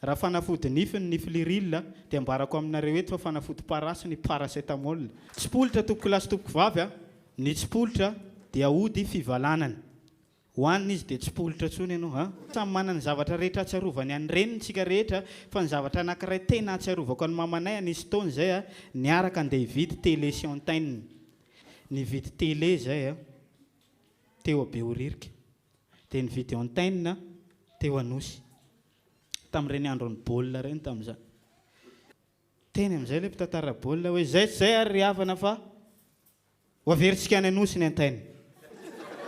Raha fanafody nify ny Fliryl dia ambarako aminareo eto fa fanafody parasy ny paracetamol. Tsipolitra tompokolahy sy tompokovavy a! Ny tsipolitra dia ody fivalanana. Hohanina izy dia tsy politra intsony ianao a! Samy manana ny zavatra rehetra ahatsiarovany an'i reniny isika rehetra fa ny zavatra anakiray tena ahatsiarovako an'i mamanay anisy taona izay a! Niaraka andeha hividy tele sy antenne. Nividy tele izay a! Teo Behoririka. dia nividy antenne teo Anosy tamin'ireny andron'ny baolina ireny tamin'izany. Teny amin'izay ilay mpitantara baolina hoe izay tsy izay ary ry havana fa ho averintsika any Anosy ny antenne.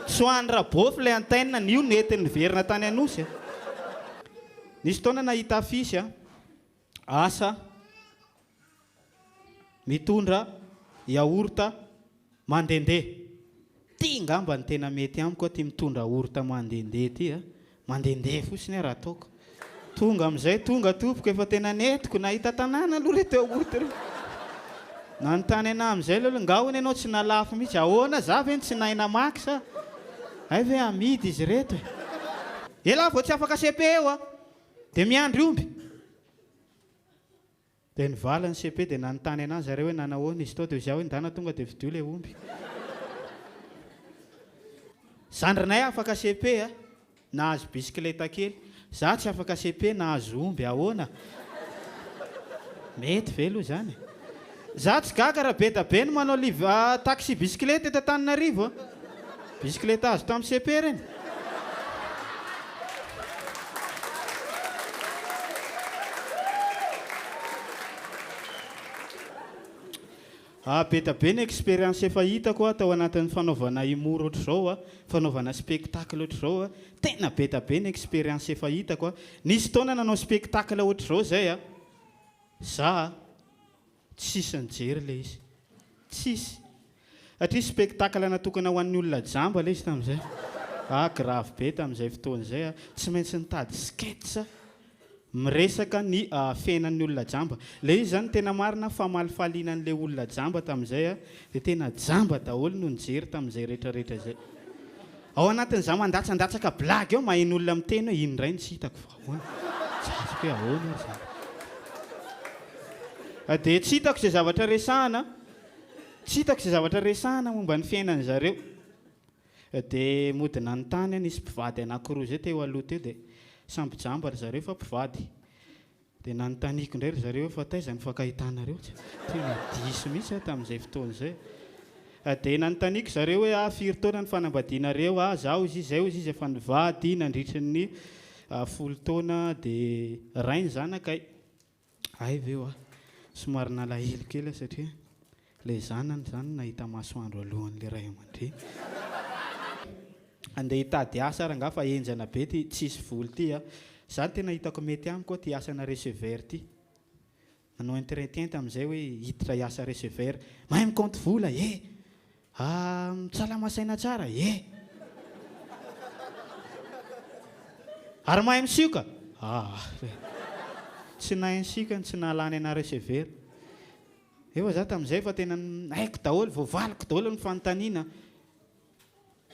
Tsy ho an'i Rabôfy ilay antenne, ny io nety niverina tany Anosy. Nisy fotoana nahita affiche. Asa mitondra yaourt mandehandeha. Ty ngamba ny tena mety amiko aty mitondra yaourt mandehandeha ty a! Mandehandeha fotsiny ary ataoko. Tonga amin'izay tonga tompoko efa tena nentiko nahita tanàna aloha reto yaourt reto. Nanontany anah amin'izay ilay olona, nga hono ianao tsy nalafo mihitsy? Ahoana, za ve no tsy nahay namaky sa hay ve amidy izy reto e! Elah vao tsy afaka CP eo a! Dia miandry omby! Dia nivala ny CP dia nanontany anazy zareo hoe nanahoana izy tao dia hoy za hoe ndana tonga dia fidio ilay omby. Zandrinay afaka CP a! Nahazo bisikileta kely. Za tsy afaka CP nahazo omby, ahoana? Mety ve aloha izany e? Za tsy gaga raha bedabe no manao live taxi bisikileta eto Antananarivo a! Bisikileta azo tamin'ny cepe reny. Ah bedabe ny expérience efa hitako a tao anatin'ny fanaovana humour ohatr'izao a, fanaovana spectacle ohatr'izao a, tena bedabe ny expérience efa hitako a! Nisy fotoana nanao spectacle ohatr'izao zay a! Za a! Tsisy nijery ilay izy. Tsisy. Satria spectacle natokana ho an'ny olona jamba ilay izy tamin'izay. Ah, grave be tamin'izay fotoana izay aho. Tsy maintsy nitady sketch miresaka ny fiainan'ny olona jamba. Ilay izy izany tena marina famalifaliana an'ilay olona jamba tamin'izay aho, dia tena jamba daholo no nijery tamin'izay rehetrarehetra izay. Ao anatin'izaho mandatsandatsaka blague ao, maheno olona miteny hoe iny indray no tsy hitako. Ahoana? Zatra hoe ahoana ary izany? Dia tsy hitako izay zavatra resahana, tsy hitako izay zavatra resahana momba ny fiainan'ny zareo. Dia mody nanontany aho, nisy mpivady anankiroa izay teo aloha teo, dia samby jamba ry zareo fa mpivady. Dia nanontaniako indray ry zareo hoe fa taiza ny fankahitanareo? Tena diso mihitsy aho tamin'izay fotoana izay. Dia nanontaniako zareo hoe ah firy taona ny fanambadianareo ah zaho hozy izy zay hozy izy efa nivady nandritry ny folo taona dia ray ny zanakay hay ve hoa somary nalahelo kely aho satria ilay zanany zany nahita masoandro alohan'ilay ray aman-dreny andeha hitady asa ary angaha fa henjana be ty tsisy vola ty ah zany tena hitako mety amiko ty asana receveur ty Nanao intirentinty amin'izay hoe hiditra hiasa receveur. Mahay mikaonty vola e! Ah, salama saina tsara e! Ary mahay misioka? Ah, tsy nahay nisioka no tsy nahalany anà receveur. Efa za tamin'izay efa tena haiko daholo, voavaliko daholo ny fanontaniana.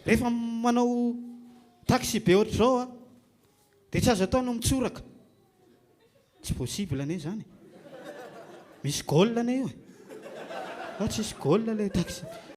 Rehefa manao taxi be ohatr'izao a! Dia tsy azo atao ny mitsoraka. Tsy possible anie izany e. Misy goal anie io e. Sa tsisy goal ilay taxi.